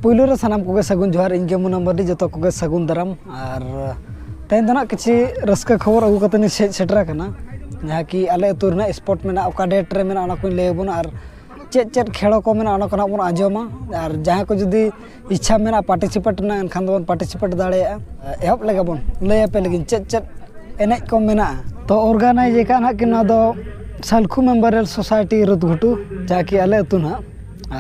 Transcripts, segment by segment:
ᱯᱩᱭᱞᱩ ᱨᱮ ᱥᱟᱱᱟᱢ ᱠᱚᱜᱮ ᱥᱟᱹᱜᱩᱱ ᱡᱚᱦᱟᱨ ᱤᱧ ᱜᱮ ᱢᱩᱱᱟ ᱢᱟᱨᱰᱤ ᱡᱚᱛᱚ ᱠᱚᱜᱮ ᱥᱟᱹᱜᱩᱱ ᱫᱟᱨᱟᱢ ᱟᱨ ᱛᱮᱦᱮᱧ ᱫᱚ ᱱᱟᱜ ᱠᱤᱪᱷᱩ ᱨᱟᱹᱥᱠᱟᱹ ᱠᱷᱚᱵᱚᱨ ᱟᱹᱜᱩ ᱠᱟᱛᱮ ᱤᱧ ᱦᱮᱡ ᱥᱮᱴᱮᱨ ᱟᱠᱟᱱᱟ ᱡᱟᱦᱟᱸ ᱠᱤ ᱟᱞᱮ ᱟᱹᱛᱩ ᱨᱮᱱᱟᱜ ᱥᱯᱚᱴ ᱢᱮᱱᱟᱜᱼᱟ ᱚᱠᱟ ᱰᱮᱴ ᱨᱮ ᱢᱮᱱᱟᱜᱼᱟ ᱚᱱᱟ ᱠᱚᱧ ᱞᱟᱹᱭ ᱟᱵᱚᱱᱟ ᱟᱨ ᱪᱮᱫ ᱪᱮᱫ ᱠᱷᱮᱞᱳ ᱠᱚ ᱢᱮᱱᱟᱜᱼᱟ ᱚᱱᱟ ᱠᱚ ᱱᱟᱜ ᱵᱚᱱ ᱟᱸᱡᱚᱢᱟ ᱟᱨ ᱡᱟᱦᱟᱸᱭ ᱠᱚ ᱡᱩᱫᱤ ᱤᱪᱪᱷᱟ ᱢᱮᱱᱟᱜᱼᱟ ᱯᱟᱨᱴᱤᱥᱤᱯᱮᱴ ᱨᱮᱱᱟᱜ ᱮᱱᱠᱷᱟᱱ ᱫᱚᱵᱚᱱ ᱯᱟᱨᱴᱤᱥᱤᱯᱮᱴ ᱫᱟᱲᱮᱭᱟᱜᱼᱟ ᱮᱦᱚᱵ ᱞᱮᱜᱮ ᱵᱚᱱ ᱞᱟᱹᱭ ᱟᱯᱮ ᱞᱟᱹᱜᱤᱫ ᱪᱮᱫ ᱪᱮᱫ ᱮᱱᱮᱡ ᱠᱚ ᱢᱮᱱᱟᱜᱼᱟ ᱛᱚ ᱚᱨᱜᱟᱱᱟᱭᱤᱡᱽ ᱟᱠᱟᱫᱼᱟ ᱱᱟᱦᱟᱜ ᱠᱤᱱ ᱱᱚᱣᱟ ᱫᱚ ᱥᱟᱞᱠᱷᱩ ᱢᱮᱢᱳᱨᱤᱭᱟᱞ ᱥᱳᱥᱟᱭᱤᱴᱤ ᱨᱳᱰ ᱜᱷᱩᱴᱩ ᱡᱟᱦᱟᱸ ᱠᱤ ᱟᱞᱮ ᱟᱹᱛᱩ ᱱᱟᱦᱟᱜ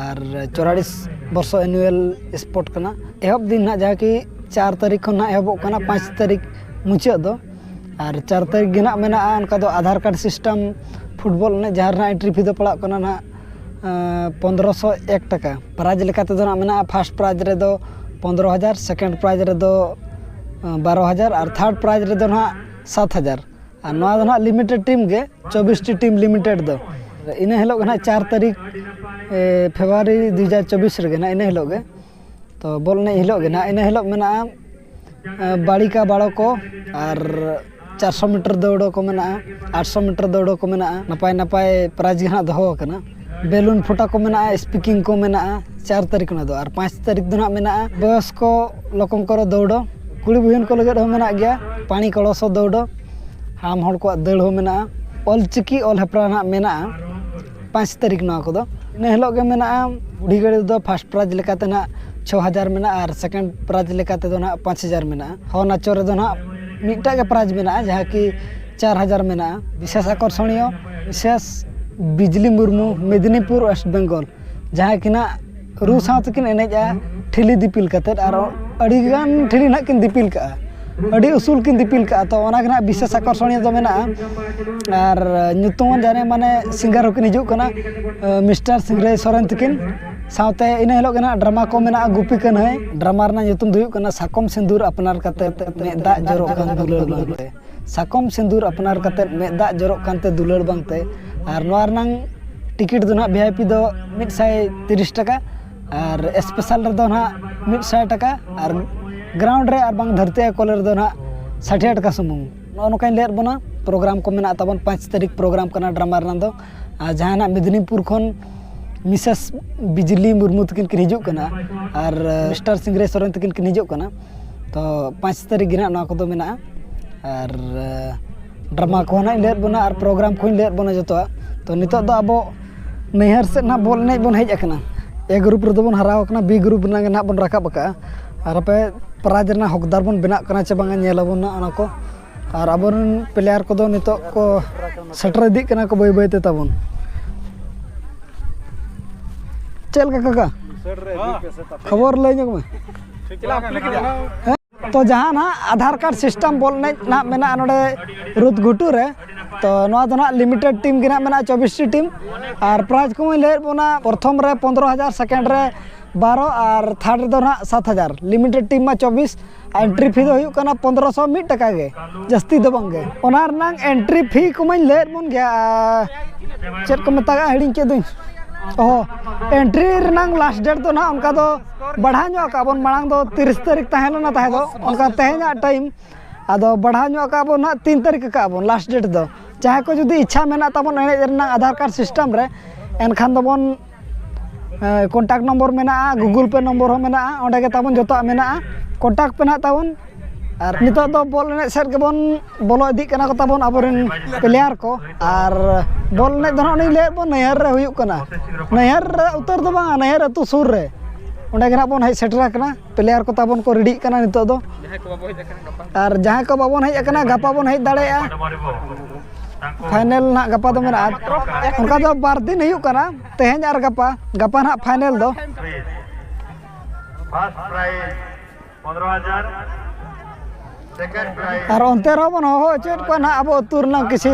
ᱟᱨ ᱪᱚᱣᱟᱞᱤᱥ ᱵᱚᱨᱥᱚ ᱮᱱᱩᱭᱮᱞ ᱥᱯᱳᱨᱴ ᱠᱟᱱᱟ ᱮᱦᱚᱵ ᱫᱤᱱ ᱱᱟᱦᱟᱜ ᱡᱟᱦᱟᱸ ᱠᱤ ᱪᱟᱨ ᱛᱟᱹᱨᱤᱠᱷ ᱠᱷᱚᱱ ᱱᱟᱦᱟᱜ ᱮᱦᱚᱵᱚᱜ ᱠᱟᱱᱟ ᱯᱟᱸᱪ ᱛᱟᱹᱨᱤᱠᱷ ᱢᱩᱪᱟᱹᱫ ᱫᱚ ᱟᱨ ᱪᱟᱨ ᱛᱟᱹᱨᱤᱠᱷ ᱜᱮ ᱱᱟᱦᱟᱜ ᱢᱮᱱᱟᱜᱼᱟ ᱚᱱᱠᱟ ᱫᱚ ᱟᱫᱷᱟᱨ ᱠᱟᱨᱰ ᱥᱤᱥᱴᱮᱢ ᱯᱷᱩᱴᱵᱚᱞ ᱮᱱᱮᱡ ᱡᱟᱦᱟᱸ ᱨᱮᱱᱟᱜ ᱮᱱᱴᱨᱤ ᱯᱷᱤ ᱫᱚ ᱯᱟᱲᱟᱜ ᱠᱟᱱᱟ ᱱᱟᱦᱟᱜ ᱯᱚᱸᱫᱽᱨᱚ ᱥᱚ ᱮᱠ ᱴᱟᱠᱟ ᱯᱨᱟᱭᱤᱡᱽ ᱞᱮᱠᱟ ᱛᱮᱫᱚ ᱦᱟᱸᱜ ᱢᱮᱱᱟᱜᱼᱟ ᱯᱷᱟᱥᱴ ᱯᱨᱟᱭᱤᱡᱽ ᱨᱮᱫᱚ ᱯᱚᱸᱫᱽᱨᱚ ᱦᱟᱡᱟᱨ ᱥᱮᱠᱮᱱᱰ ᱯᱨᱟᱭᱤᱡᱽ ᱨᱮᱫᱚ ᱵᱟᱨᱚ ᱦᱟᱡᱟᱨ ᱟᱨ ᱛᱷᱟᱨᱰ ᱯᱨᱟᱭᱤᱡᱽ ᱨᱮᱫᱚ ᱦᱟᱸᱜ ᱥᱟᱛ ᱦᱟᱡᱟᱨ ᱟᱨ ᱱᱚᱣᱟ ᱫᱚ ᱦᱟᱸᱜ ᱞᱤᱢᱤᱴᱮᱰ ᱴᱤᱢ ᱜᱮ ᱪᱚᱵᱵᱤᱥ ᱴᱤ ᱴᱤᱢ ᱞᱤᱢᱤᱴᱮᱰ ᱫᱚ ᱤᱱᱟᱹ ᱦᱤᱞᱳᱜ ᱜᱮ ᱦᱟᱸᱜ ᱪᱟᱨ ᱛᱟᱹᱨᱤᱠᱷ ᱯᱷᱮᱵᱽᱨᱩᱣᱟᱨᱤ ᱫᱩ ᱦᱟᱡᱟᱨ ᱪᱚᱵᱵᱤᱥ ᱨᱮᱜᱮ ᱦᱟᱸᱜ ᱤᱱᱟᱹ ᱦᱤᱞᱳᱜ ᱜᱮ ᱛᱚ ᱵᱚᱞ ᱮᱱᱮᱡ ᱦᱤᱞᱳᱜ ᱜᱮ ᱱᱟᱦᱟᱜ ᱤᱱᱟᱹ ᱦᱤᱞᱳᱜ ᱢᱮᱱᱟᱜᱼᱟ ᱵᱟᱹᱲᱤ ᱠᱟ ᱵᱟᱲᱚ ᱠᱚ ᱟᱨ ᱪᱟᱨᱥᱚ ᱢᱤᱴᱟᱨ ᱫᱟᱹᱲ ᱠᱚ ᱢᱮᱱᱟᱜᱼᱟ ᱟᱴᱥᱚ ᱢᱤᱴᱟᱨ ᱫᱟᱹᱲ ᱠᱚ ᱢᱮᱱᱟᱜᱼᱟ ᱱᱟᱯᱟᱭ ᱱᱟᱯᱟᱭ ᱯᱨᱟᱭᱤᱡᱽ ᱜᱮ ᱱᱟᱦᱟᱜ ᱫᱚᱦᱚ ᱟᱠᱟᱱᱟ ᱵᱮᱞᱩᱱ ᱯᱷᱚᱴᱟ ᱠᱚ ᱢᱮᱱᱟᱜᱼᱟ ᱥᱯᱤᱠᱤᱝ ᱠᱚ ᱢᱮᱱᱟᱜᱼᱟ ᱪᱟᱨ ᱛᱟᱹᱨᱤᱠᱷ ᱚᱱᱟ ᱫᱚ ᱟᱨ ᱯᱟᱸᱪ ᱛᱟᱹᱨᱤᱠᱷ ᱫᱚ ᱱᱟᱦᱟᱜ ᱢᱮᱱᱟᱜᱼᱟ ᱵᱚᱭᱚᱥ ᱠᱚ ᱞᱚᱠᱚᱢ ᱠᱚᱨᱚ ᱫᱟᱹᱲ ᱠᱩᱲᱤ ᱵᱚᱭᱤᱱ ᱠᱚ ᱞᱟᱹᱜᱤᱫ ᱦᱚᱸ ᱢᱮᱱᱟᱜ ᱜᱮᱭᱟ ᱯᱟᱱᱤ ᱠᱚᱲᱚᱥᱚ ᱫᱟᱹᱲ ᱦᱟᱲᱟᱢ ᱦᱚᱲ ᱠᱚᱣᱟᱜ ᱫᱟᱹᱲ ᱦᱚᱸ ᱢᱮᱱᱟᱜᱼᱟ ᱚᱞ ᱪᱤᱠᱤ ᱚᱞ ᱦᱮᱯᱨᱟᱣ ᱱᱟᱦᱟᱜ ᱢᱮᱱᱟᱜᱼᱟ ᱯᱟᱸᱪ ᱛᱟᱹᱨᱤᱠᱷ ᱱᱚᱣᱟ ᱠᱚᱫᱚ ᱤᱱᱟᱹ ᱦᱤᱞᱳᱜ ᱜᱮ ᱢᱮᱱᱟᱜᱼᱟ ᱵᱩᱰᱷᱤ ᱜᱟᱹᱰᱤ ᱨᱮᱫᱚ ᱯᱷᱟᱥᱴ ᱯᱨᱟᱭᱤᱡᱽ ᱞᱮᱠᱟᱛᱮ ᱦᱟᱸᱜ ᱪᱷᱚ ᱦᱟᱡᱟᱨ ᱢᱮᱱᱟᱜᱼᱟ ᱟᱨ ᱥᱮᱠᱮᱱᱰ ᱯᱨᱟᱭᱤᱡᱽ ᱞᱮᱠᱟ ᱛᱮᱫᱚ ᱦᱟᱸᱜ ᱯᱟᱸᱪ ᱦᱟᱡᱟᱨ ᱢᱮᱱᱟᱜᱼᱟ ᱦᱚ ᱱᱟᱪᱚ ᱨᱮᱫᱚ ᱦᱟᱸᱜ ᱢᱤᱫᱴᱟᱜ ᱜᱮ ᱯᱨᱟᱭᱤᱡᱽ ᱢᱮᱱᱟᱜᱼᱟ ᱡᱟᱦᱟᱸ ᱠᱤ ᱪᱟᱨ ᱦᱟᱡᱟᱨ ᱢᱮᱱᱟᱜᱼᱟ ᱵᱤᱥᱮᱥ ᱟᱠᱚᱨᱥᱚᱱᱤᱭᱚ ᱵᱤᱥᱮᱥ ᱵᱤᱡᱽᱞᱤ ᱢᱩᱨᱢᱩ ᱢᱮᱫᱽᱱᱤᱯᱩᱨ ᱳᱭᱮᱥᱴ ᱵᱮᱝᱜᱚᱞ ᱡᱟᱦᱟᱸᱭ ᱠᱤᱱᱟᱜ ᱨᱩ ᱥᱟᱶ ᱛᱮᱠᱤᱱ ᱮᱱᱮᱡᱼᱟ ᱴᱷᱤᱞᱤ ᱫᱤᱯᱤᱞ ᱠᱟᱛᱮᱫ ᱟᱨ ᱟᱹᱰᱤ ᱜᱟᱱ ᱴᱷᱤᱞᱤ ᱱᱟᱦᱟᱜ ᱠᱤᱱ ᱫᱤᱯᱤᱞ ᱠᱟᱜᱼᱟ ᱟᱹᱰᱤ ᱩᱥᱩᱞ ᱠᱤᱱ ᱫᱤᱯᱤᱞ ᱠᱟᱜᱼᱟ ᱛᱚ ᱚᱱᱟ ᱜᱮ ᱱᱟᱦᱟᱜ ᱵᱤᱥᱮᱥ ᱟᱠᱚᱨᱥᱚᱱᱤᱭᱚ ᱫᱚ ᱢᱮᱱᱟᱜᱼᱟ ᱟᱨ ᱧᱩᱛᱩᱢᱟᱱ ᱡᱟᱦᱟᱸᱭ ᱢᱟᱱᱮ ᱥᱤᱝᱜᱟᱨ ᱦᱚᱸᱠᱤᱱ ᱦᱤᱡᱩᱜ ᱠᱟᱱᱟ ᱢᱤᱥᱴᱟᱨ ᱥᱤᱝᱨᱟᱹᱭ ᱥᱚᱨᱮᱱ ᱛᱟᱹᱠᱤᱱ ᱥᱟᱶᱛᱮ ᱤᱱᱟᱹ ᱦᱤᱞᱳᱜ ᱜᱮ ᱱᱟᱦᱟᱜ ᱰᱨᱟᱢᱟ ᱠᱚ ᱢᱮᱱᱟᱜᱼᱟ ᱜᱩᱯᱤ ᱠᱟᱹᱱᱦᱟᱹᱭ ᱰᱨᱟᱢᱟ ᱨᱮᱱᱟᱜ ᱧᱩᱛᱩᱢ ᱫᱚ ᱦᱩᱭᱩᱜ ᱠᱟᱱᱟ ᱥᱟᱠᱚᱢ ᱥᱤᱸᱫᱩᱨ ᱟᱯᱱᱟᱨ ᱠᱟᱛᱮᱫ ᱢᱮᱫ ᱫᱟᱜ ᱡᱚᱨᱚᱜ ᱠᱟᱱ ᱫᱩᱞᱟᱹᱲ ᱵᱟᱝᱛᱮ ᱥᱟᱠᱚᱢ ᱥᱤᱸᱫᱩᱨ ᱟᱯᱱᱟᱨ ᱠᱟᱛᱮ ᱢᱮᱫ ᱫᱟᱜ ᱡᱚᱨᱚᱜ ᱠᱟᱱᱛᱮ ᱫᱩᱞᱟᱹᱲ ᱵᱟᱝᱛᱮ ᱟᱨ ᱱᱚᱣᱟ ᱨᱮᱱᱟᱝ ᱴᱤᱠᱤᱴ ᱫᱚ ᱦᱟᱸᱜ ᱵᱷᱤ ᱟᱭ ᱯᱤ ᱫᱚ ᱢᱤᱫ ᱥᱟᱭ ᱛᱤᱨᱤᱥ ᱴᱟᱠᱟ ᱟᱨ ᱮᱥᱯᱮᱥᱟᱞ ᱨᱮᱫᱚ ᱦᱟᱸᱜ ᱢᱤᱫ ᱥᱟᱭ ᱴᱟᱠᱟ ᱟᱨ ᱜᱨᱟᱣᱩᱱᱰ ᱨᱮ ᱟᱨ ᱵᱟᱝ ᱫᱷᱟᱹᱨᱛᱤ ᱟᱭᱳ ᱠᱚᱞᱮ ᱨᱮᱫᱚ ᱦᱟᱸᱜ ᱥᱟᱴᱷᱮ ᱴᱟᱠᱟ ᱥᱩᱢᱩᱝ ᱱᱚᱜᱼᱚ ᱱᱚᱝᱠᱟᱧ ᱞᱟᱹᱭᱟᱫ ᱵᱚᱱᱟ ᱯᱨᱳᱜᱨᱟᱢ ᱠᱚ ᱢᱮᱱᱟᱜ ᱛᱟᱵᱚᱱ ᱯᱟᱸᱪ ᱛᱟᱹᱨᱤᱠᱷ ᱯᱨᱳᱜᱨᱟᱢ ᱠᱟᱱᱟ ᱰᱨᱟᱢᱟ ᱨᱮᱱᱟᱜ ᱫᱚ ᱟᱨ ᱡᱟᱦᱟᱸᱭ ᱦᱟᱸᱜ ᱢᱮᱫᱽᱱᱤᱯᱩᱨ ᱠᱷᱚᱱ ᱢᱤᱥᱮᱥ ᱵᱤᱡᱽᱞᱤ ᱢᱩᱨᱢᱩ ᱛᱟᱹᱠᱤᱱ ᱠᱤᱱ ᱦᱤᱡᱩᱜ ᱠᱟᱱᱟ ᱟᱨ ᱢᱤᱥᱴᱟᱨ ᱥᱤᱝᱨᱟᱹᱭ ᱥᱚᱨᱮᱱ ᱛᱟᱹᱠᱤᱱ ᱠᱤᱱ ᱦᱤᱡᱩᱜ ᱠᱟᱱᱟ ᱛᱚ ᱯᱟᱸᱪ ᱛᱟᱹᱨᱤᱠᱷ ᱜᱮ ᱦᱟᱸᱜ ᱱᱚᱣᱟ ᱠᱚᱫᱚ ᱢᱮᱱᱟᱜᱼᱟ ᱟᱨ ᱰᱨᱟᱢᱟ ᱠᱚᱦᱚᱸ ᱦᱟᱸᱜ ᱤᱧ ᱞᱟᱹᱭᱟᱫ ᱵᱚᱱᱟ ᱟᱨ ᱯᱨᱳᱜᱨᱟᱢ ᱠᱚᱦᱚᱸᱧ ᱞᱟᱹᱭᱟᱫ ᱵᱚᱱᱟ ᱡᱚᱛᱚᱣᱟᱜ ᱛᱚ ᱱᱤᱛᱚᱜ ᱫᱚ ᱟᱵᱚ ᱱᱟᱹᱭᱦᱟᱹᱨ ᱥᱮᱫ ᱦᱟᱸᱜ ᱵᱚᱞ ᱮᱱᱮᱡ ᱵᱚᱱ ᱦᱮᱡ ᱠᱟᱱᱟ ᱮ ᱜᱨᱩᱯ ᱨᱮᱫᱚ ᱵᱚᱱ ᱦᱟᱨᱟᱣ ᱠᱟᱱᱟ ᱵᱤ ᱜᱨᱩᱯ ᱨᱮᱱᱟᱜ ᱜᱮ ᱦᱟᱸᱜ ᱵᱚᱱ ᱨᱟᱠᱟᱵ ᱠᱟᱜᱼᱟ ᱟᱨ ᱟᱯᱮ ᱯᱨᱟᱭᱤᱡᱽ ᱨᱮᱱᱟᱜ ᱦᱚᱠᱫᱟᱨ ᱵᱚᱱ ᱵᱮᱱᱟᱜ ᱠᱟᱱᱟ ᱪᱮ ᱵᱟᱝ ᱧᱮᱞ ᱟᱵᱚᱱ ᱦᱟᱸᱜ ᱚᱱᱟ ᱠᱚ ᱟᱨ ᱟᱵᱚᱨᱮᱱ ᱯᱞᱮᱭᱟᱨ ᱠᱚᱫᱚ ᱱᱤᱛᱚᱜ ᱠᱚ ᱥᱮᱴᱮᱨ ᱤᱫᱤᱜ ᱠᱟᱱᱟ ᱠᱚ ᱵᱟᱹᱭ ᱵᱟᱹᱭᱛᱮ ᱛᱟᱵᱚᱱ ᱪᱮᱫ ᱞᱮᱠᱟ ᱠᱟᱠᱟ ᱠᱷᱚᱵᱚᱨ ᱞᱟᱹᱭ ᱧᱚᱜ ᱢᱮ ᱛᱚ ᱡᱟᱦᱟᱸ ᱱᱟᱜ ᱟᱫᱷᱟᱨ ᱠᱟᱨᱰ ᱥᱤᱥᱴᱮᱢ ᱵᱚᱞ ᱮᱱᱮᱡ ᱱᱟᱜ ᱢᱮᱱᱟᱜᱼᱟ ᱱᱚᱰᱮ ᱨᱩᱫ ᱜᱷᱩᱴᱩ ᱨᱮ ᱛᱚ ᱱᱚᱣᱟ ᱫᱚ ᱱᱟᱜ ᱞᱤᱢᱤᱴᱮᱰ ᱴᱤᱢ ᱜᱮ ᱱᱟᱜ ᱢᱮᱱᱟᱜᱼᱟ ᱪᱚᱵᱵᱤᱥᱴᱤ ᱴᱤᱢ ᱟᱨ ᱯᱨᱟᱭᱤᱡᱽ ᱠᱚᱦᱚᱸ ᱞᱟᱹᱭᱮᱫ ᱵᱚᱱᱟ ᱯᱨᱚᱛᱷᱚᱢ ᱨᱮ ᱯᱚᱸᱫᱽᱨᱚ ᱦᱟᱡᱟᱨ ᱥᱮᱠᱮᱱᱰ ᱨᱮ ᱵᱟᱨᱚ ᱟᱨ ᱛᱷᱟᱨᱰ ᱨᱮᱫᱚ ᱱᱟᱜ ᱥᱟᱛ ᱦᱟᱡᱟᱨ ᱞᱤᱢᱤᱴᱮᱰ ᱴᱤᱢ ᱢᱟ ᱪᱚᱵᱵᱤᱥ ᱮᱱᱴᱨᱤ ᱯᱷᱤ ᱫᱚ ᱦᱩᱭᱩᱜ ᱠᱟᱱᱟ ᱯᱚᱱᱫᱨᱚ ᱥᱚ ᱢᱤᱫ ᱴᱟᱠᱟ ᱜᱮ ᱡᱟᱹᱥᱛᱤ ᱫᱚ ᱵᱟᱝᱜᱮ ᱚᱱᱟ ᱨᱮᱱᱟᱝ ᱮᱱᱴᱨᱤ ᱯᱷᱤ ᱠᱚᱢᱟᱧ ᱞᱟᱹᱭᱟᱫ ᱵᱚᱱ ᱜᱮᱭᱟ ᱪᱮᱫ ᱠᱚ ᱢᱮᱛᱟᱜᱼᱟ ᱦᱤᱲᱤᱧ ᱠᱮᱫ ᱫᱚᱧ ᱚ ᱮᱱᱴᱨᱤ ᱨᱮᱱᱟᱝ ᱞᱟᱥᱴ ᱰᱮᱴ ᱫᱚ ᱱᱟᱦᱟᱜ ᱚᱱᱠᱟ ᱫᱚ ᱵᱟᱲᱦᱟᱣ ᱧᱚᱜ ᱠᱟᱜᱼᱟ ᱵᱚᱱ ᱢᱟᱲᱟᱝ ᱫᱚ ᱛᱤᱨᱤᱥ ᱛᱟᱹᱨᱤᱠᱷ ᱛᱟᱦᱮᱸ ᱞᱮᱱᱟ ᱛᱟᱦᱮᱸ ᱫᱚ ᱚᱱᱠᱟ ᱛᱮᱦᱮᱧᱟᱜ ᱴᱟᱭᱤᱢ ᱟᱫᱚ ᱵᱟᱲᱦᱟᱣ ᱧᱚᱜ ᱠᱟᱜᱼᱟ ᱵᱚᱱ ᱱᱟᱦᱟᱜ ᱛᱤᱱ ᱛᱟᱹᱨᱤᱠᱷ ᱠᱟᱜᱼᱟ ᱵᱚᱱ ᱞᱟᱥᱴ ᱰᱮᱴ ᱫᱚ ᱡᱟᱦᱟᱸᱭ ᱠᱚ ᱡᱩᱫᱤ ᱤᱪᱪᱷᱟ ᱢᱮᱱᱟᱜ ᱛᱟᱵᱚᱱ ᱮᱱᱮᱡ ᱨᱮᱱᱟᱜ ᱟᱫᱷᱟᱨ ᱠᱟᱨᱰ ᱥᱤᱥᱴᱮᱢ ᱨᱮ ᱮᱱᱠᱷᱟᱱ ᱫᱚᱵᱚᱱ ᱠᱚᱱᱴᱟᱠ ᱱᱚᱢᱵᱚᱨ ᱢᱮᱱᱟᱜᱼᱟ ᱜᱩᱜᱩᱞ ᱯᱮ ᱱᱚᱢᱵᱚᱨ ᱦᱚᱸ ᱢᱮᱱᱟᱜᱼᱟ ᱚᱸᱰᱮ ᱜᱮ ᱛᱟᱵᱚᱱ ᱡᱚᱛᱚᱣᱟᱜ ᱢᱮᱱᱟᱜᱼᱟ ᱠᱚᱱᱴᱟᱠ ᱯᱮ ᱱᱟᱦᱟᱜ ᱛᱟᱵᱚᱱ ᱟᱨ ᱱᱤᱛᱚᱜ ᱫᱚ ᱵᱚᱞ ᱮᱱᱮᱡ ᱥᱮᱫ ᱜᱮᱵᱚᱱ ᱵᱚᱞᱚ ᱤᱫᱤᱜ ᱠᱟᱱᱟ ᱠᱚ ᱛᱟᱵᱚᱱ ᱟᱵᱚ ᱨᱮᱱ ᱯᱞᱮᱭᱟᱨ ᱠᱚ ᱟᱨ ᱵᱚᱞ ᱮᱱᱮᱡ ᱫᱚ ᱱᱟᱦᱟᱜ ᱞᱤᱧ ᱞᱟᱹᱭᱟᱫ ᱵᱚᱱ ᱱᱟᱹᱭᱦᱟᱹᱨ ᱨᱮ ᱦᱩᱭᱩᱜ ᱠᱟᱱᱟ ᱱᱟᱹᱭᱦᱟᱹᱨ ᱨᱮ ᱩᱛᱟᱹᱨ ᱫᱚ ᱵᱟᱝ ᱱᱟᱹᱭᱦᱟᱹᱨ ᱟᱹᱛᱩ ᱥᱩᱨ ᱨᱮ ᱚᱸᱰᱮ ᱜᱮ ᱱᱟᱦᱟᱜ ᱵᱚᱱ ᱦᱮᱡ ᱥᱮᱴᱮᱨ ᱟᱠᱟᱱᱟ ᱯᱞᱮᱭᱟᱨ ᱠᱚ ᱛᱟᱵᱚᱱ ᱠᱚ ᱨᱮᱰᱤᱜ ᱠᱟᱱᱟ ᱱᱤᱛᱚᱜ ᱫᱚ ᱟᱨ ᱡᱟᱦᱟᱸᱭ ᱠᱚ ᱵᱟᱵᱚᱱ ᱦᱮᱡ ᱟᱠᱟᱱᱟ ᱜᱟᱯᱟ ᱵᱚᱱ ᱦᱮᱡ ᱫᱟᱲᱮᱭᱟᱜᱼᱟ ᱯᱷᱟᱭᱱᱮᱞ ᱱᱟᱦᱟᱜ ᱜᱟᱯᱟ ᱫᱚ ᱢᱮᱱᱟᱜᱼᱟ ᱚᱱᱠᱟ ᱫᱚ ᱵᱟᱨ ᱫᱤᱱ ᱦᱩᱭᱩᱜ ᱠᱟᱱᱟ ᱛᱮᱦᱮᱧ ᱟᱨ ᱜᱟᱯᱟ ᱜᱟᱯᱟ ᱱᱟᱦᱟᱜ ᱯᱷᱟᱭᱱᱮᱞ ᱫᱚ ᱟᱨ ᱚᱱᱛᱮ ᱨᱮᱦᱚᱸ ᱵᱚᱱ ᱦᱚᱦᱚ ᱦᱚᱪᱚᱭᱮᱫ ᱠᱚᱣᱟ ᱱᱟᱦᱟᱜ ᱟᱵᱚ ᱟᱹᱛᱩ ᱨᱮᱱᱟᱜ ᱠᱤᱪᱷᱩ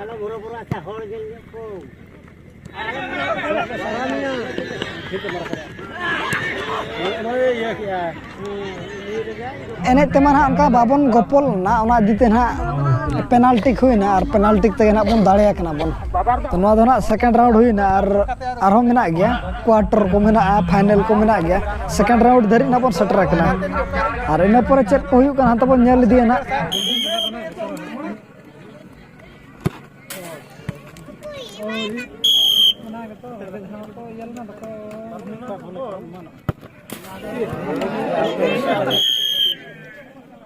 ᱟᱞᱚ ᱵᱚᱨᱚ ᱵᱚᱨᱚ ᱟᱪᱪᱷᱟ ᱦᱚᱲ ᱧᱮᱞ ᱧᱚᱜ ᱠᱚ ᱮᱱᱮᱡ ᱛᱮᱢᱟ ᱱᱟᱦᱟᱜ ᱚᱱᱠᱟ ᱵᱟᱵᱚᱱ ᱜᱚᱯᱚᱞ ᱞᱮᱱᱟ ᱚᱱᱟ ᱤᱫᱤ ᱛᱮ ᱱᱟᱦᱟᱜ ᱯᱮᱱᱟᱞᱴᱤ ᱦᱩᱭᱱᱟ ᱟᱨ ᱯᱮᱱᱟᱞᱴᱤ ᱛᱮᱜᱮ ᱱᱟᱦᱟᱜ ᱵᱚᱱ ᱫᱟᱲᱮᱭᱟ ᱠᱟᱱᱟ ᱵᱚᱱ ᱛᱚ ᱱᱚᱣᱟ ᱫᱚ ᱱᱟᱦᱟᱜ ᱥᱮᱠᱮᱱᱰ ᱨᱟᱣᱩᱱᱰ ᱦᱩᱭᱱᱟ ᱟᱨ ᱟᱨᱦᱚᱸ ᱢᱮᱱᱟᱜ ᱜᱮᱭᱟ ᱠᱚᱣᱟᱴᱚᱨ ᱠᱚ ᱢᱮᱱᱟᱜᱼᱟ ᱯᱷᱟᱭᱱᱮᱞ ᱠᱚ ᱢᱮᱱᱟᱜ ᱜᱮᱭᱟ ᱥᱮᱠᱮᱱᱰ ᱨᱟᱣᱩᱱᱰ ᱫᱷᱟᱹᱨᱤᱡ ᱱᱟᱜ ᱵᱚᱱ ᱥᱮᱴᱮᱨ ᱟᱠᱟᱱᱟ ᱟᱨ ᱤᱱᱟᱹ ᱯᱚᱨᱮ ᱪᱮᱫ ᱠᱚ ᱦᱩᱭᱩᱜ ᱠᱟᱱᱟ ᱦᱟᱱᱛᱮ ᱵᱚᱱ ᱧᱮᱞ ᱤᱫᱤᱭᱟ ᱱᱟᱜ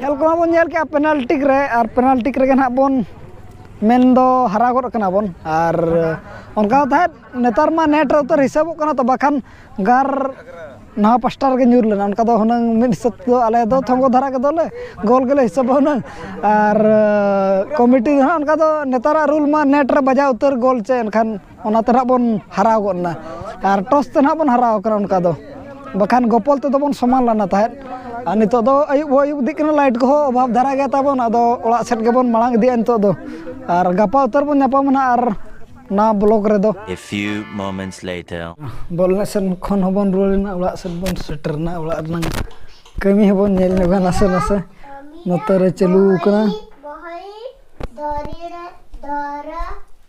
ᱧᱮᱞ ᱠᱚᱢᱟ ᱵᱚᱱ ᱧᱮᱞ ᱠᱮᱜᱼᱟ ᱯᱮᱱᱟᱞᱴᱤ ᱨᱮ ᱟᱨ ᱯᱮᱱᱟᱞᱴᱤ ᱨᱮᱜᱮ ᱱᱟᱦᱟᱜ ᱵᱚᱱ ᱢᱮᱱ ᱫᱚ ᱦᱟᱨᱟ ᱜᱚᱫ ᱠᱟᱱᱟ ᱵᱚᱱ ᱟᱨ ᱚᱱᱠᱟ ᱛᱟᱦᱮᱸᱫ ᱱᱮᱛᱟᱨ ᱢᱟ ᱱᱮᱴ ᱨᱮ ᱩᱛᱟᱹᱨ ᱦᱤᱥᱟᱹᱵᱚᱜ ᱠᱟᱱᱟ ᱛᱚ ᱵᱟᱠᱷᱟᱱ ᱜᱟᱨ ᱱᱟᱣᱟ ᱯᱟᱥᱴᱟ ᱨᱮᱜᱮ ᱧᱩᱨ ᱞᱮᱱᱟ ᱚᱱᱠᱟ ᱫᱚ ᱦᱩᱱᱟᱹᱝ ᱢᱤᱫ ᱦᱤᱥᱟᱹᱵ ᱛᱮᱫᱚ ᱟᱞᱮ ᱫᱚ ᱛᱷᱚᱸᱜᱚ ᱫᱷᱟᱨᱟ ᱜᱮᱫᱚᱞᱮ ᱜᱳᱞ ᱜᱮᱞᱮ ᱦᱤᱥᱟᱹᱵᱟ ᱦᱩᱱᱟᱹᱝ ᱟᱨ ᱠᱚᱢᱤᱴᱤ ᱫᱚ ᱱᱟᱦᱟᱜ ᱚᱱᱠᱟ ᱫᱚ ᱱᱮᱛᱟᱨᱟᱜ ᱨᱩᱞ ᱢᱟ ᱱᱮᱴ ᱨᱮ ᱵᱟᱡᱟᱣ ᱩᱛᱟᱹᱨ ᱜᱳᱞ ᱪᱮ ᱮᱱᱠᱷᱟᱱ ᱚᱱᱟᱛᱮ ᱱᱟᱦᱟᱜ ᱵᱚᱱ ᱦᱟᱨᱟᱣ ᱜᱚᱫ ᱮᱱᱟ ᱟᱨ ᱴᱚᱥ ᱛᱮ ᱱᱟᱦᱟᱜ ᱵᱚᱱ ᱦᱟᱨᱟᱣ ᱠᱟᱱᱟ ᱚᱱᱠᱟ ᱫᱚ ᱵᱟᱠᱷᱟᱱ ᱜᱚᱯᱚᱞ ᱛᱮᱫᱚ ᱵᱚᱱ ᱥᱚᱢᱟᱱ ᱞᱮᱱᱟ ᱛᱟᱦᱮᱸᱫ ᱟᱨ ᱱᱤᱛᱚᱜ ᱫᱚ ᱟᱹᱭᱩᱵ ᱦᱚᱸ ᱟᱹᱭᱩᱵ ᱤᱫᱤᱜ ᱠᱟᱱᱟ ᱞᱟᱭᱤᱴ ᱠᱚᱦᱚᱸ ᱚᱵᱷᱟᱵᱽ ᱫᱷᱟᱨᱟ ᱜᱮᱭᱟ ᱛᱟᱵᱚᱱ ᱟᱫᱚ ᱚᱲᱟᱜ ᱥᱮᱫ ᱜᱮᱵᱚᱱ ᱢᱟᱲᱟᱝ ᱤᱫᱤᱜᱼᱟ ᱱᱤᱛᱚᱜ ᱫᱚ ᱟᱨ ᱜᱟᱯᱟ ᱩᱛᱟᱹᱨ ᱵᱚᱱ ᱧᱟᱯᱟᱢᱟ ᱱᱟᱦᱟᱜ ᱟᱨ ᱱᱟᱣᱟ ᱵᱞᱚᱜᱽ ᱨᱮᱫᱚ ᱮ ᱯᱷᱤᱭᱩ ᱢᱚᱢᱮᱱᱴᱥ ᱞᱮᱴᱟᱨ ᱵᱚᱞ ᱮᱱᱮᱡ ᱥᱮᱫ ᱠᱷᱚᱱ ᱦᱚᱸᱵᱚᱱ ᱨᱩᱣᱟᱹᱲ ᱮᱱᱟ ᱚᱲᱟᱜ ᱥᱮᱫ ᱵᱚᱱ ᱥᱮᱴᱮᱨ ᱮᱱᱟ ᱚᱲᱟᱜ ᱨᱮᱱᱟᱜ ᱠᱟᱹᱢᱤ ᱦᱚᱸᱵᱚᱱ ᱧᱮᱞ ᱧᱚᱜᱟ ᱱᱟᱥᱮ ᱱᱟᱥᱮ ᱱᱚᱛᱮ ᱨᱮ ᱪᱟᱹᱞᱩ ᱟᱠᱟᱱᱟ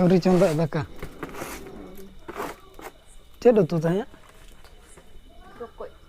ᱟᱹᱣᱨᱤ ᱪᱚᱸᱫᱟᱜ ᱫᱟᱠᱟ ᱪᱮᱫ ᱩᱛᱩ ᱛᱟᱦᱮᱸᱫ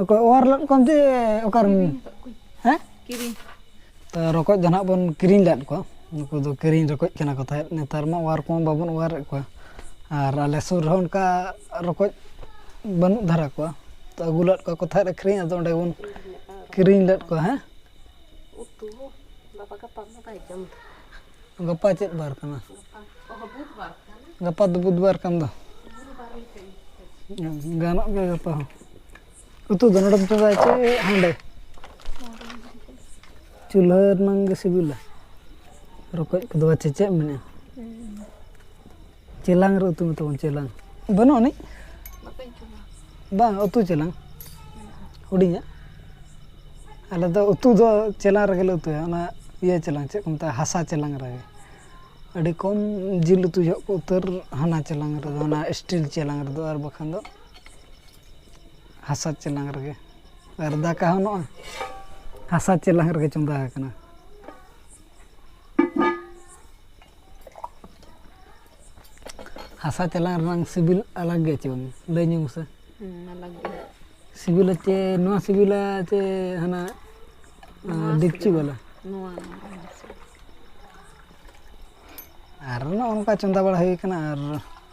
ᱚᱠᱚᱭ ᱚᱣᱟᱨ ᱞᱮᱫ ᱠᱚᱣᱟᱢ ᱡᱮ ᱚᱠᱟᱨᱮᱢ ᱦᱮᱸ ᱠᱤᱨᱤᱧ ᱛᱚ ᱨᱚᱠᱚᱡ ᱫᱚ ᱱᱟᱦᱟᱜ ᱵᱚᱱ ᱠᱤᱨᱤᱧ ᱞᱮᱫ ᱠᱚᱣᱟ ᱱᱩᱠᱩ ᱫᱚ ᱠᱤᱨᱤᱧ ᱨᱚᱠᱚᱡ ᱠᱟᱱᱟ ᱠᱚ ᱛᱟᱦᱮᱸᱫ ᱱᱮᱛᱟᱨ ᱢᱟ ᱚᱣᱟᱨ ᱠᱚᱢᱟ ᱵᱟᱵᱚᱱ ᱚᱣᱟᱨᱮᱫ ᱠᱚᱣᱟ ᱟᱨ ᱟᱞᱮ ᱥᱩᱨ ᱨᱮᱦᱚᱸ ᱚᱱᱠᱟ ᱨᱚᱠᱚᱡ ᱵᱟᱹᱱᱩᱜ ᱫᱷᱟᱨᱟ ᱠᱚᱣᱟ ᱛᱚ ᱟᱹᱜᱩ ᱞᱮᱫ ᱠᱚᱣᱟ ᱠᱚ ᱛᱟᱦᱮᱸᱫ ᱟᱹᱠᱷᱨᱤᱧ ᱟᱫᱚ ᱚᱸᱰᱮ ᱵᱚᱱ ᱠᱤᱨᱤᱧ ᱞᱮᱫ ᱠᱚᱣᱟ ᱦᱮᱸ ᱩᱛᱩ ᱵᱟᱵᱟ ᱜᱟᱯᱟ ᱢᱟ ᱵᱟᱭ ᱡᱚᱢ ᱫᱟ ᱜᱟᱯᱟ ᱪᱮᱫ ᱵᱟᱨ ᱠᱟᱱᱟ ᱜᱟᱯᱟ ᱫᱚ ᱵᱩᱫᱷᱵᱟᱨ ᱠᱟᱱ ᱫᱚ ᱜᱟᱱᱚᱜ ᱜᱮᱭᱟ ᱜᱟᱯᱟ ᱦᱚᱸ ᱩᱛᱩ ᱫᱚ ᱱᱚᱰᱮᱢ ᱪᱚᱸᱫᱟᱭᱟ ᱪᱮ ᱦᱟᱸᱰᱮ ᱪᱩᱞᱦᱟᱹ ᱨᱮᱱᱟᱝ ᱜᱮ ᱥᱤᱵᱤᱞᱟ ᱨᱚᱠᱚᱡ ᱠᱚᱫᱚ ᱵᱟᱪᱮ ᱪᱮᱫ ᱮᱢ ᱢᱮᱱᱮᱫᱼᱟ ᱪᱮᱞᱟᱝ ᱨᱮ ᱩᱛᱩ ᱢᱮᱛᱟᱵᱚᱱ ᱪᱮᱞᱟᱝ ᱵᱟᱹᱱᱩᱜ ᱟᱹᱱᱤᱡ ᱵᱟᱝ ᱩᱛᱩ ᱪᱮᱞᱟᱝ ᱦᱩᱰᱤᱧᱟᱜ ᱟᱞᱮ ᱫᱚ ᱩᱛᱩ ᱫᱚ ᱪᱮᱞᱟᱝ ᱨᱮᱜᱮ ᱞᱮ ᱩᱛᱩᱭᱟ ᱚᱱᱟ ᱤᱭᱟᱹ ᱪᱮᱞᱟᱝ ᱪᱮᱫ ᱠᱚ ᱢᱮᱛᱟᱜᱼᱟ ᱦᱟᱥᱟ ᱪᱮᱞᱟᱝ ᱨᱮᱜᱮ ᱟᱹᱰᱤ ᱠᱚᱢ ᱡᱤᱞ ᱩᱛᱩ ᱡᱚᱦᱚᱜ ᱠᱚ ᱩᱛᱟᱹᱨ ᱦᱟᱱᱟ ᱪᱮᱞᱟᱝ ᱨᱮᱫᱚ ᱚᱱᱟ ᱥᱴᱤᱞ ᱪᱮᱞᱟᱝ ᱨᱮᱫᱚ ᱟᱨ ᱵᱟᱠᱷᱟᱱ ᱫᱚ ᱦᱟᱥᱟ ᱪᱮᱞᱟᱝ ᱨᱮᱜᱮ ᱟᱨ ᱫᱟᱠᱟ ᱦᱚᱸ ᱱᱚᱜᱼᱚᱭ ᱦᱟᱥᱟ ᱪᱮᱞᱟᱝ ᱨᱮᱜᱮ ᱪᱚᱸᱫᱟ ᱟᱠᱟᱱᱟ ᱦᱟᱥᱟ ᱪᱟᱞᱟᱝ ᱨᱮᱱᱟᱝ ᱥᱤᱵᱤᱞ ᱟᱞᱟᱜᱽ ᱜᱮᱭᱟ ᱪᱮ ᱵᱟᱝ ᱞᱟᱹᱭ ᱧᱚᱜ ᱢᱮᱥᱮ ᱟᱞᱟᱜᱽ ᱜᱮ ᱥᱤᱵᱤᱞᱟ ᱪᱮ ᱱᱚᱣᱟ ᱥᱤᱵᱤᱞᱟ ᱪᱮ ᱦᱟᱱᱟ ᱰᱮᱠᱪᱤ ᱵᱟᱞᱟ ᱱᱚᱣᱟ ᱟᱨ ᱱᱚᱜᱼᱚ ᱱᱚᱝᱠᱟ ᱪᱚᱸᱫᱟ ᱵᱟᱲᱟ ᱦᱩᱭ ᱠᱟᱱᱟ ᱟᱨ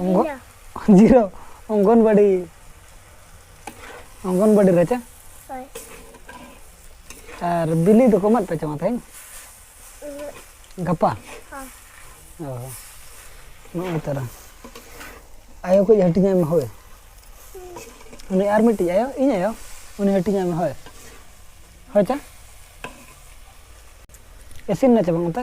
ᱚᱝᱜᱚ ᱡᱤᱨᱳ ᱚᱝᱜᱚᱱᱵᱟᱲᱤ ᱚᱝᱜᱚᱱᱵᱟᱲᱤ ᱨᱮ ᱪᱮ ᱦᱳᱭ ᱟᱨ ᱵᱤᱞᱤ ᱫᱚᱠᱚ ᱮᱢᱟᱫ ᱯᱮ ᱪᱚᱝᱟ ᱛᱮᱦᱮᱧ ᱜᱟᱯᱟ ᱦᱚᱸ ᱚ ᱱᱚᱜᱼᱚᱭ ᱛᱚᱨᱟ ᱟᱭᱳ ᱠᱚ ᱦᱟᱹᱴᱤᱧᱟᱭ ᱢᱮ ᱦᱳᱭ ᱩᱱᱤ ᱟᱨ ᱢᱤᱫᱴᱤᱡ ᱟᱭᱳ ᱤᱧ ᱟᱭᱳ ᱩᱱᱤ ᱦᱟᱹᱴᱤᱧᱟᱭ ᱢᱮ ᱦᱳᱭ ᱦᱳᱭ ᱪᱟ ᱤᱥᱤᱱ ᱱᱟ ᱪᱮ ᱵᱟᱝ ᱚᱱᱛᱮ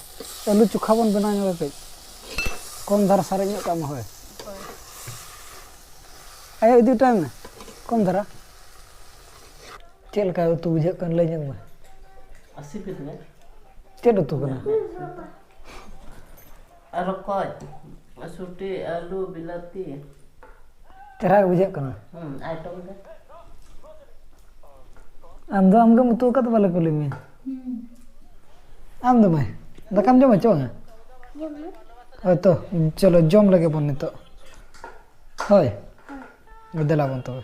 ᱟᱹᱞᱩ ᱪᱚᱠᱷᱟ ᱵᱚᱱ ᱵᱮᱱᱟᱣ ᱧᱚᱜᱟ ᱠᱟᱹᱡ ᱠᱚᱢ ᱫᱷᱟᱨᱟ ᱥᱟᱨᱮᱡ ᱧᱚᱜ ᱠᱟᱜ ᱢᱟ ᱦᱳᱭ ᱟᱭᱳ ᱤᱫᱤ ᱦᱚᱴᱚᱭ ᱢᱮ ᱠᱚᱢ ᱫᱷᱟᱨᱟ ᱪᱮᱫ ᱞᱮᱠᱟ ᱩᱛᱩ ᱵᱩᱡᱷᱟᱹᱜ ᱠᱟᱱ ᱞᱟᱹᱭ ᱧᱚᱜ ᱢᱮ ᱪᱮᱫ ᱩᱛᱩ ᱠᱟᱱᱟ ᱨᱚᱠᱚᱡ ᱥᱩᱴᱤ ᱟᱹᱞᱩ ᱵᱤᱞᱟᱹᱛᱤ ᱪᱮᱦᱨᱟ ᱜᱮ ᱵᱩᱡᱷᱟᱹᱜ ᱠᱟᱱᱟ ᱟᱭᱴᱚᱢ ᱫᱚ ᱟᱢ ᱫᱚ ᱟᱢᱜᱮᱢ ᱩᱛᱩ ᱟᱠᱟᱫ ᱵᱟᱞᱮ ᱠᱩᱞᱤ ᱢᱮᱭᱟ ᱟᱢ ᱫᱚ ᱢᱟᱹᱭ ᱫᱟᱠᱟᱢ ᱡᱚᱢᱟ ᱪᱮ ᱵᱟᱝᱟ ᱦᱳᱭᱛᱚ ᱪᱚᱞᱚ ᱡᱚᱢ ᱞᱮᱜᱮ ᱵᱚᱱ ᱱᱤᱛᱚᱜ ᱦᱳᱭ ᱫᱮᱞᱟ ᱵᱚᱱ ᱛᱚᱵᱮ